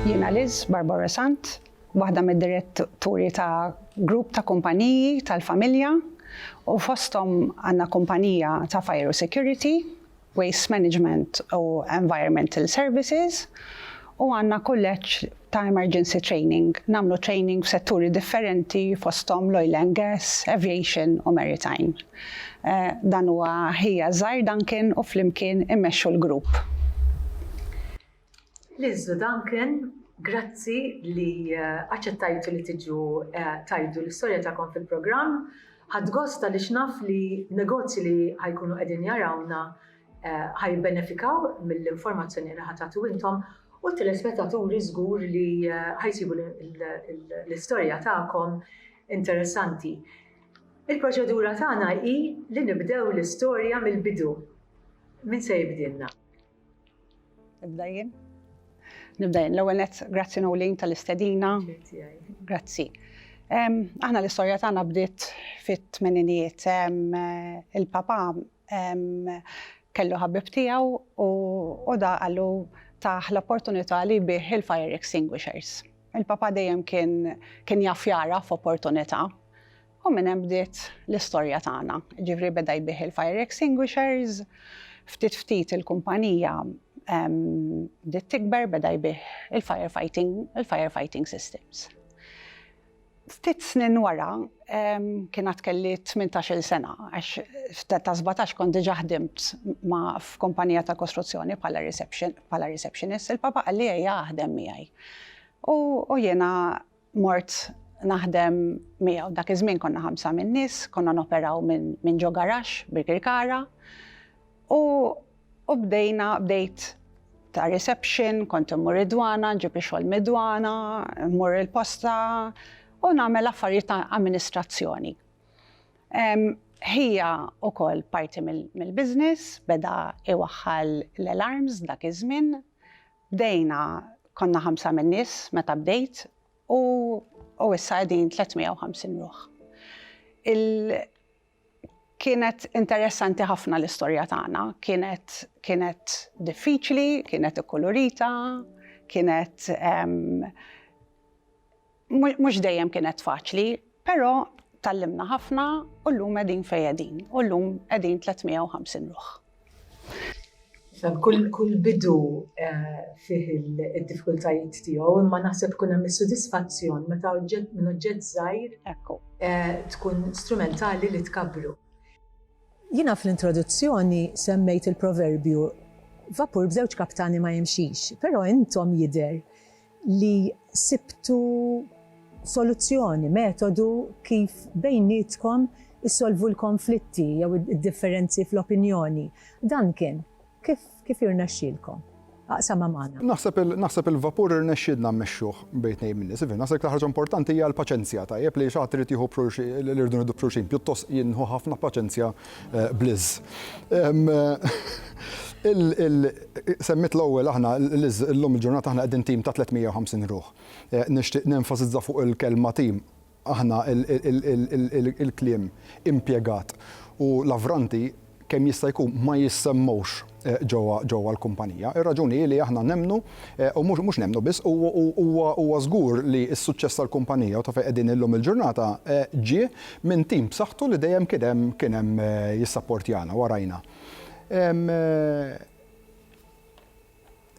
Jiena Liz Barbara Sant, waħda mid-diretturi ta' grupp ta' kumpaniji tal-familja u fosthom għandna kumpanija ta' fire u security, waste management u environmental services u għandna kulleġġ ta' emergency training, nagħmlu training f'setturi differenti fosthom l-oil and gas, aviation u maritime. Dan huwa ħija żgħir Duncan u flimkien immexxu l-grupp. Lill-Zu Duncan, grazzi li aċċettajtu li tiġu tgħidu l-istorja tagħkom fil-programm. Ħadt gost għaliex naf li negozji li ħa jkunu qegħdin jarawna ħa jibbenefikaw mill-informazzjoni li ħa tagħtu intom u t-telespettaturi żgur li ħa jsibu l-istorja tagħkom interessanti. Il-proċedura tagħna hi li nibdew l-istorja mill-bidu. Min se jibdilna? Nibda jien? Nibda jien. L-ewwel nett, grazzi Nolin tal-istedina. Grazzi. Aħna l-istorja tagħna bdiet fit-tmeninijiet. Il-papa kellu ħabib tiegħu u da qallu tah l-opportunità li jbigħ il-fire extinguishers. Il-papà dejjem kien kien jaf jagħraf opportunità u minn hemm bdiet l-istorja tagħna. Ġifieri beda jbigħ il-fire extinguishers, ftit ftit il-kumpanija bdiet tikber beda jbigħ il-fire fighting il-fire fighting systems. Ftit snin wara, kien għad kelli tmintax-il sena, għax f'età ta' sbatax kont diġà ħdimt ma' f'kumpanija tal-kostruzzjoni bħala reception, bħala receptionist, il-Papa qalli ejja aħdem miegħi. U u jiena mort naħdem miegħu. Dak iż-żmien konna ħamsa min-nies, konna noperaw minn minn ġo garaxx, Birkirkara, u U bdejna, bdejt ta' reception, kont immur id-dwana, nġib ix-xogħol mid-dwana, mmur il-posta u nagħmel affarijiet ta' amministrazzjoni. Ħija wkoll parti mill-business, beda iwaħħal l-alarms dak iż-żmien. Bdejna, konna ħamsa min-nies meta bdejt u issa qegħdin 350 ruħ. Kienet interessanti ħafna l-istorja tagħna, kienet kienet diffiċli, kienet ikkulurita, kienet mhux dejjem kienet faċli, però tgħallimna ħafna u llum qegħdin fejn qegħdin u llum qegħdin 350 ruħ. Kull kull bidu fih il-diffikultajiet tiegħu, imma naħseb ikun hemm is-sodisfazzjon meta oġġett minn oġġett żgħir hekk tkun strumentali li tkabbru. Jiena fl-introduzzjoni semmejt il-proverbju, Vapur b'żewġ kaptani ma jimxix, però intom jidher li sibtu soluzzjoni, metodu kif bejnietkom issolvu l-konflitti jew id-differenzi fl-opinjoni. Dan kien. Kif kif irnexxielkom? Aqsamha magħna. Naħseb il naħseb il-vapur irnexxielna mmexxuh bejn tnejn min-nies. Iva, naħseb l-iktar ħaġa importanti hija l-paċenzja, tajjeb, li xi ħadd irid jieħu b'xulxi li rridu nieħdu b'xulxin. Pjuttost jien nieħu ħafna paċenzja bl-iż. Semmiet l-ewwel aħna l-iż, illum il-ġurnata aħna qegħdin tim ta' 350 ruħ. Nixtieq nenfasizza fuq il-kelma tim, aħna il-kliem impjegat u l-avranti kemm jista' jkun ma jissemmewx. ġewwa l-kumpanija. Ir-raġuni hi li aħna nemmnu, u mhux nemmnu biss, huwa żgur li s-suċċess tal-kumpanija u ta' fejn qegħdin illum il-ġurnata ġie minn tim b'saħħtu li dejjem kien hemm jissapportjana, warajna.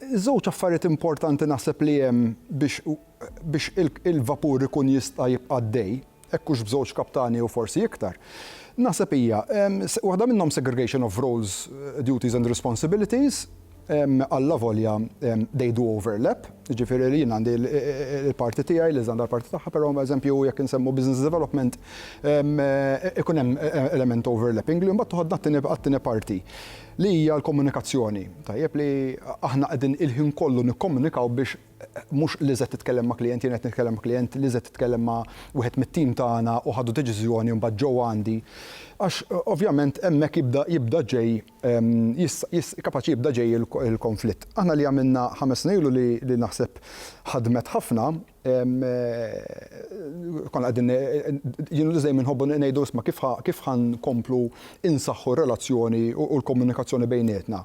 Żewġ affarijiet importanti naħseb li hemm biex biex il-vapur ikun jista' jibqa' għaddej, hekk hux b'żewġ kaptani jew forsi iktar, naħseb hija, waħda minnhom segregation of roles, duties and responsibilities, allavolja they do overlap, jiġifieri li jien għandi l-parti tiegħi, Liz għandha l-parti tagħha, però eżempju jekk insemmu business development ikun hemm element overlapping li mbagħad toħodna għat-tieni parti. Li hija l-komunikazzjoni. Tajjeb li aħna qegħdin il-ħin kollu nikkomunikaw biex mhux Lizette titkellem ma' klijent, jien qed nitkellem ma' klijent, Lizette titkellem ma' wieħed mit-tim tagħna u ħadu deċiżjoni u mbagħad ġew għandi. Għax ovvjament hemmhekk jibda jibda ġej jista' kapaċi jibda ġej il-konflitt. Aħna li għamilna ħames snin ilu li naħseb ħadmet ħafna, Konna qegħdin, jien u Liz dejjem inħobbu ngħidu isma' kif ħa, kif ħa nkomplu insaħħu r-relazzjoni u l-komunikazzjoni bejnietna.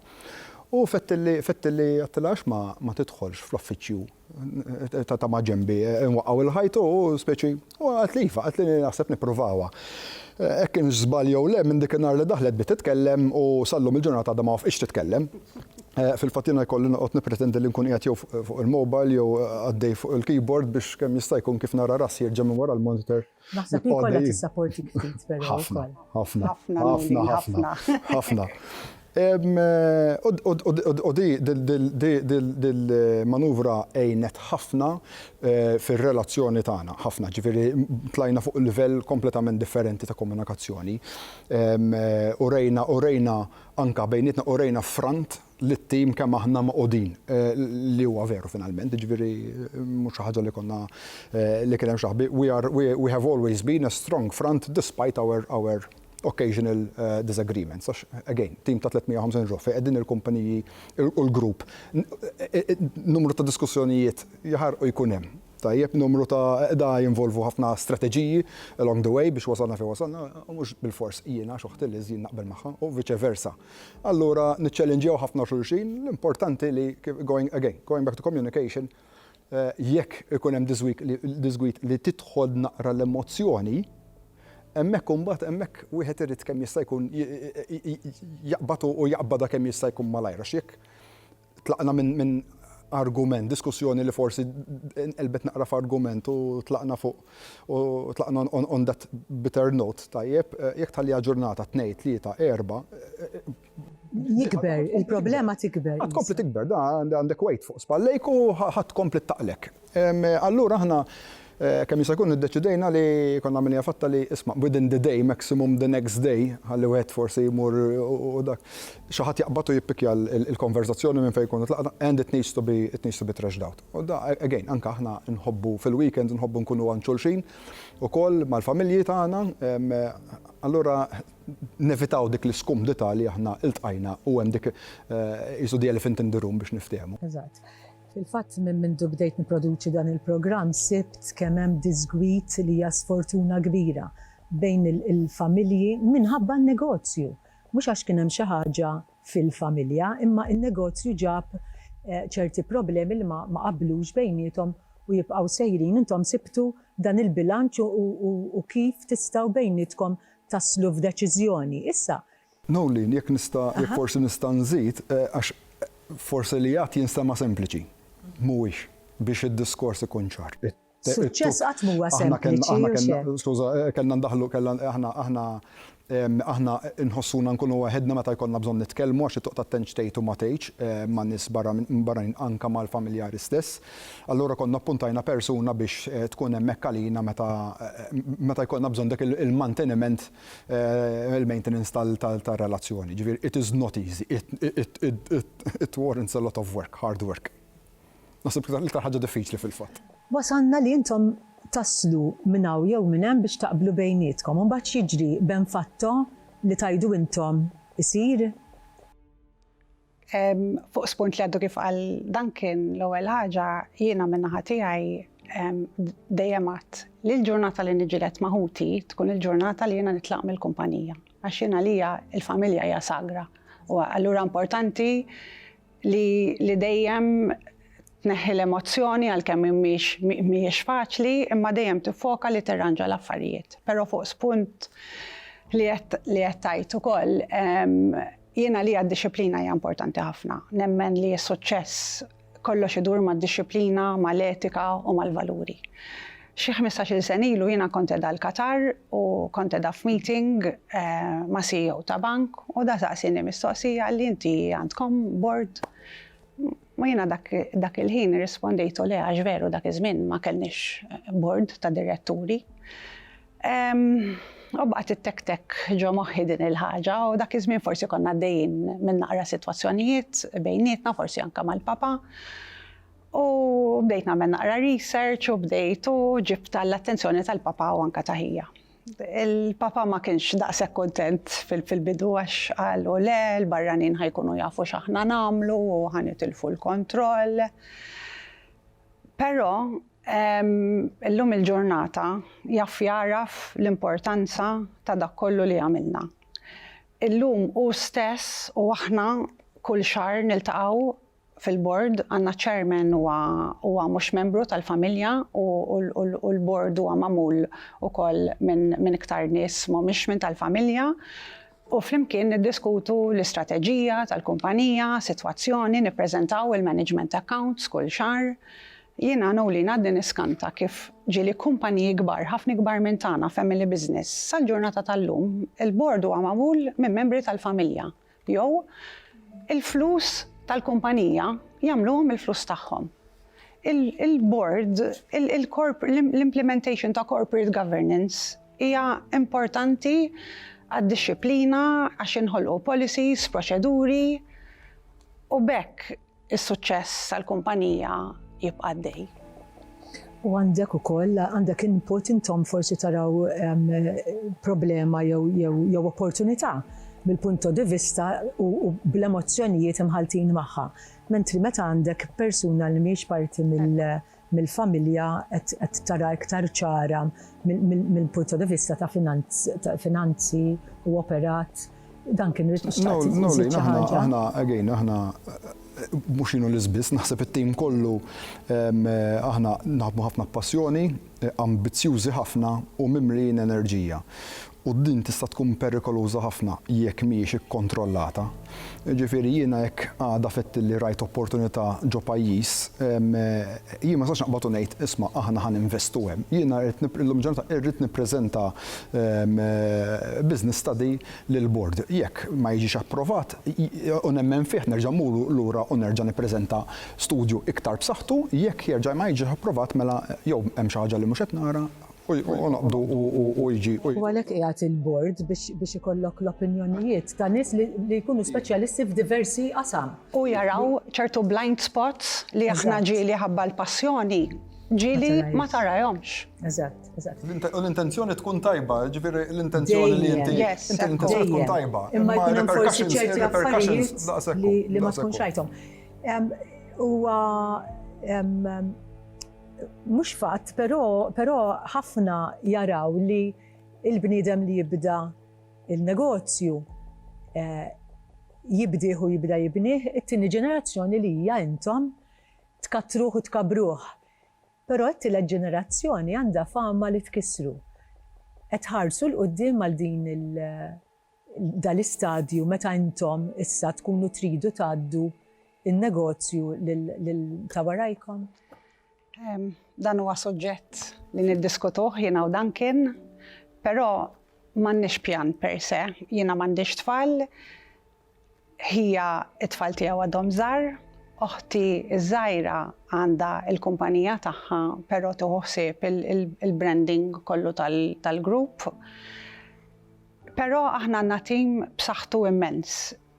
U fettilli, fettilli għedtilha għax ma, ma tidħolx fl-uffiċċju ta' ta' maġenbi, inwaqqgħu l-ħajt u speċi, u qaltli iva, qaltli naħseb nippruvawha. Hekk kienx żball jew le, minn dik in-nhar li daħlet bdiet titkellem u sal-lum il-ġurnata għadha ma wafqitx titkellem. Fil-fatt jiena jkolli noqgħod nippretendi li nkun qiegħed jew fuq il-mobile jew għaddej fuq il-keyboard biex kemm jista' jkun kif nara rassi jerġa' minn wara l-monitor. Naħseb li jkollha tissapportik ftit però wkoll. Ħafna, ħafna, ħafna, ħafna, ħafna. U di l-manuvra għinet ħafna fir-relazzjoni tagħna, ħafna. Ġifieri tlajna fuq livell kompletament differenti ta' komunikazzjoni. Urejna, urejna Anke bejnietna urejna ffront lit-tim kemm aħna mogħqudin, li huwa veru finalment, jiġifieri mhux xi ħaġa li konna li kien hemm xi ħbi, we are we have always been a strong front despite our our occasional disagreements għax again tim ta' 350 ruħ fejn qegħdin il-kumpaniji u l-grupp numru ta' diskussjonijiet jaħarqu jkun hemm. Tajjeb, numru ta' qda jinvolvu ħafna strateġiji along the way biex wasalna fejn wasalna, u mhux bilfors jiena għax oħti Liz jien naqbel magħha, u vice versa. Allura niċċellinġjaw ħafna xulxin, l-importanti li going again, going back to communication, jekk ikun hemm diżgwid li tidħol naqra l-emozzjoni, hemmhekk imbagħad hemmhekk wieħed irid kemm jista' jkun jaqbad u jaqbadha kemm jista' jkun malajr għax jekk Tlaqna minn argument, diskussjoni li forsi nqelbet naqra f'argument u tlaqna fuq u tlaqna on that bitter note, tajjeb, jekk tħalliha ġurnata, tnejn, tlieta, erbgħa, Jikber, il-problema tikber. Tkompli tikber, għandek weight fuq spallejk u ħa tkompli ttaqlek. Allura aħna kemm jista' jkun iddeċidejna li konna għamilniha fatta li isma' within the day, maximum the next day, ħalli wieħed forsi jmur u dak, xi ħadd jaqbad u jippikkja l-konverżazzjoni minn fejn jkunu tlaqna and it needs to be it needs to be thrashed out. U da again anke aħna nħobbu fil-weekends nħobbu nkunu għand xulxin ukoll mal-familji tagħna allura nevitaw dik l-iskumdità li aħna iltqajna u hemm dik qisu the elephant in the room biex nifthehmu. Eżatt. Fil-fatt minn mindu bdejt nipproduċi dan il-programm sibt kemm hemm diżgwid li hija sfortuna kbira bejn il-familji minħabba n-negozju. Mhux għax kien hemm xi ħaġa fil-familja imma n-negozju ġab ċerti problemi li ma qablux bejniethom u jibqgħu sejrin. Intom sibtu dan il-bilanċ u kif tistgħu bejnietkom taslu f'deċiżjoni. Issa Noeleen, jekk nista', jekk forsi nista' nżid, għax forsi li għadt jinstema' sempliċi. Mhuwiex, biex id-diskors ikun ċar. Suċċess qatt m'huwa sempliċi, u x'hemm. Skuża, kellna ndaħħlu, kellna, aħna, aħna, aħna nħossuna nkunu waħedna meta jkollna bżonn nitkellmu għax it-toqta tendx tgħid u ma tgħidx ma' nies barra minn barranin anke mal-familjari stess. Allura konna ppuntajna persuna biex tkun hemmhekk għalina meta, meta jkollna bżonn dak il-manteniment. il-maintenance tar-relazzjoni. Jiġifieri it is not easy, it warrants a lot of work, hard work. Naħseb l-iktar ħaġa diffiċli fil-fatt. Wasalna li intom taslu minn hawn jew minn hemm biex taqblu bejnietkom. Imbagħad x'jiġri, ben fatto li tgħidu intom isir? Fuq spunt li għaddu kif qal Duncan, l-ewwel ħaġa jiena min-naħa tiegħi dejjem għadt li l-ġurnata li niġġieled ma' ħuti tkun il-ġurnata li jiena nitlaq mill-kumpanija għax jien għalija l-familja hija sagra u allura importanti li dejjem tneħħi l-emozzjoni għalkemm mhix mhijiex faċli imma dejjem tiffoka li tirranġa l-affarijiet. Però fuq spunt li qed tgħid ukoll Jien għalija d-dixxiplina hija importanti ħafna. Nemmen li s-suċċess kollox idur mad-dixxiplina, mal-etika u mal-valuri. Xi ħmistax-il sena ilu jiena kont qiegħda l-Qatar u kont qiegħda f'meeting ma' CEO ta' bank u da saqsieni mistoqsija qalli inti għandkom board u jiena dak il-ħin irrispondejtu le għax veru dak iż-żmien ma kellniex board ta' diretturi. U baqgħet ittektek ġo moħħi din il-ħaġa u dak iż-żmien forsi konna għaddejjin minn naqra sitwazzjonijiet bejnietna, forsi anke mal-papa. U bdejt nagħmel naqra research u bdejt u ġibt għall-attenzjoni tal-papa u anke ta' ħija. Il-papa ma kienx daqshekk kuntent fil-bidu għax qal u le, l-barranin ħajkunu jafu x'aħna nagħmlu u ħa nitilfu l-kontroll. Però, illum il-ġurnata, jaf jagħraf l-importanza ta' dak kollu li għamilna. Illum hu stess u aħna kull xahar niltaqgħu fil-Bord, għandna Chairman huwa huwa mhux membru tal-familja u u l-Bord huwa magħmul ukoll minn minn iktar nies m'humiex minn tal-familja. u flimkien niddiskutu l-istrateġija tal-kumpanija, sitwazzjoni, nippreżentaw il-management accounts kull xahar. Jiena Noeline għadni niskanta kif ġieli kumpaniji kbar, ħafna ikbar minn tagħna, family business. Sal-ġurnata tal-lum, il-bord huwa magħmul minn membri tal-familja jew il-flus tal-kumpanija jagħmluhom il-flus tagħhom. Il-bord, il-corp, l-implementation ta' corporate governance, Hija importanti għad-dixxiplina għax jinħolqu policies, proċeduri u b'hekk is-suċċess tal-kumpanija jibqa' għaddej. U għandek ukoll, għandek input intom forsi taraw problema jew opportunità mill-punto di vista u bl-emozzjonijiet imħalltin magħha. Mentri meta għandek persuna li mhijiex parti mill, mill-familja qed tara iktar ċara mill-punto di vista ta' finanzi u operat. Dan kien rrid xtaqt inżid xi ħaġa. Aħna, again, aħna mhux jien u Liz biss, naħseb it-tim kollu aħna naħdmu ħafna b'passjoni, ambizzjużi ħafna u mimlijin enerġija. U din tista' tkun perikoluża ħafna jekk mhijiex ikkontrollata. Jiġifieri jiena jekk għada fettilli rajt opportunità ġo pajjiż, jien ma nistax naqbad u ngħid, isma' aħna ħa ninvestu hemm. Jiena rrid nip, illum il-ġurnata irrid nippreżenta business study lill-bord. Jekk ma jiġix approvat, u nemmen fih, nerġa' mmur lura u nerġa' nippreżenta studju iktar b'saħħtu, jekk jerġa' ma jiġix approvat mela jew hemm xi ħaġa li mhux qed nara, U għalhekk qiegħed il-Bord biex ikollok l-opinjonijiet ta' nies li jkunu speċjalisti f'diversi qasam. U jaraw ċertu blind spots li aħna ġieli ħabba l-passjoni, ġieli ma tarahomx. Eżatt, eżatt. U l-intenzjoni tkun tajba, jiġifieri l-intenzjoni li inti, l-intenzjoni tkun tajba. Imma jkun hemm forsi ċerti affarijiet li ma tkunx rajthom. Huwa Mhux fatt, però, però ħafna jaraw li l-bniedem li jibda l-negozju, jibdieh u jibda jibnih, it-tieni ġenerazzjoni li hija intom, tkattruh u tkabbruh. Però t-tielet ġenerazzjoni għandha fama li tkissru. Qed tħarsu 'l quddiem għal din il-, dal-istadju meta intom issa tkunu tridu tgħaddu n-negozju lil ta' warajkom? Dan huwa suġġett li niddiskutuh jiena u Duncan, però m'għandniex pjan per se. Jiena m'għandix tfal. Ħija, it-tfal tiegħu għadhom żgħar. Oħti ż-żgħira għandha l-kumpanija tagħha però tieħu ħsieb il-branding kollu tal-grupp. Però aħna għandna tim b'saħħtu immens.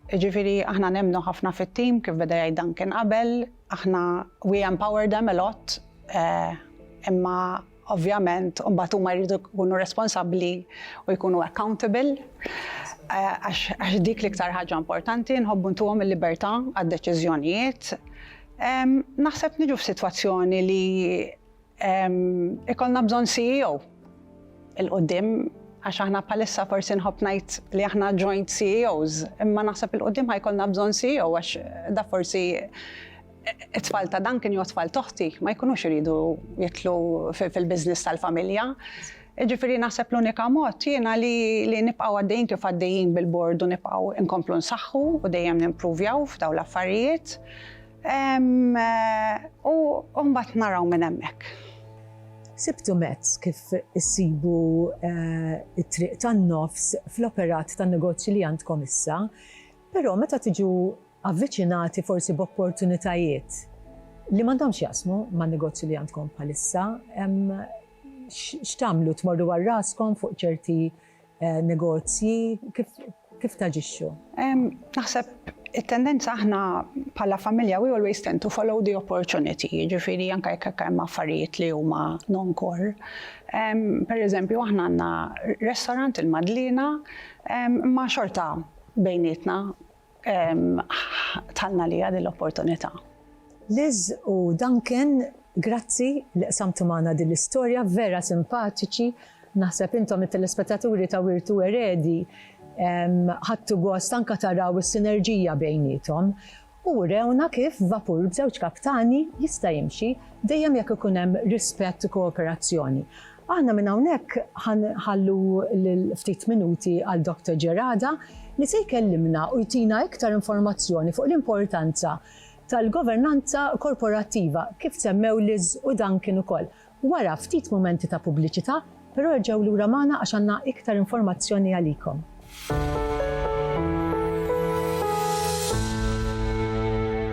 Jiġifieri aħna nemmnu ħafna fit-tim kif beda jgħid Duncan qabel. Aħna we empower them a lot imma Ovvjament, imbagħad huma jridu jkunu responsabbli u jkunu accountable għax dik l-iktar ħaġa importanti nħobbu ntuhom il-libertà għad-deċiżjonijiet. Naħseb niġu f'sitwazzjoni li ikollna bżonn CEO il-quddiem għax aħna bħalissa forsi nħobb ngħid li aħna joint CEOs, imma naħseb il-quddiem ħajkollna bżonn CEO għax da forsi It-tfal ta' Duncan jew tfal t'oħti ma jkunux iridu jidħlu fil-business tal-familja. Jiġifieri naħseb l-unika mod jiena li li nibqgħu għaddejjin kif għaddejjin bil-bord u nibqgħu nkomplu nsaħħu u dejjem nimpruvjaw f'dawn l-affarijiet. U u mbagħad naraw minn hemmhekk. Sibtu mezz kif issibu t-triq tan-nofs fl-operat tan-negozju li għandkom issa? Però meta tiġu avviċinati forsi b'opportunitajiet li m'għandhomx x'jaqsmu man-negozju li għandkom bħalissa, x'tagħmlu? Tmorru għal raskom fuq ċerti negozji? Kif taġixxu? Naħseb it-tendenza aħna bħala familja we always tend to follow the opportunity, jiġifieri anke jekk hemm affarijiet li huma non-core. Pereżempju aħna għandna restaurant il-Madliena imma xorta Bejnietna ħtannha għaliha din l-opportunità. Liz u Duncan, grazzi li qsamtu magħna din l-istorja, vera simpatiċi. Naħseb intom it-telespettaturi ta' Wirtu Eredi ħadtu gost anke taraw is-sinerġija bejniethom u urewna kif vapur b'żewġ kaptani jista' jimxi dejjem jekk ikun hemm rispett u kooperazzjoni. Aħna minn hawnhekk ħa nħallu lil ftit minuti għal Doctor Gerada li se jkellimna u jtina iktar informazzjoni fuq l-importanza tal-governanza korporattiva kif semmew Liz u Duncan ukoll. Wara ftit mumenti ta' pubbliċità, però erġgħu lura magħna għax għandna iktar informazzjoni għalikom.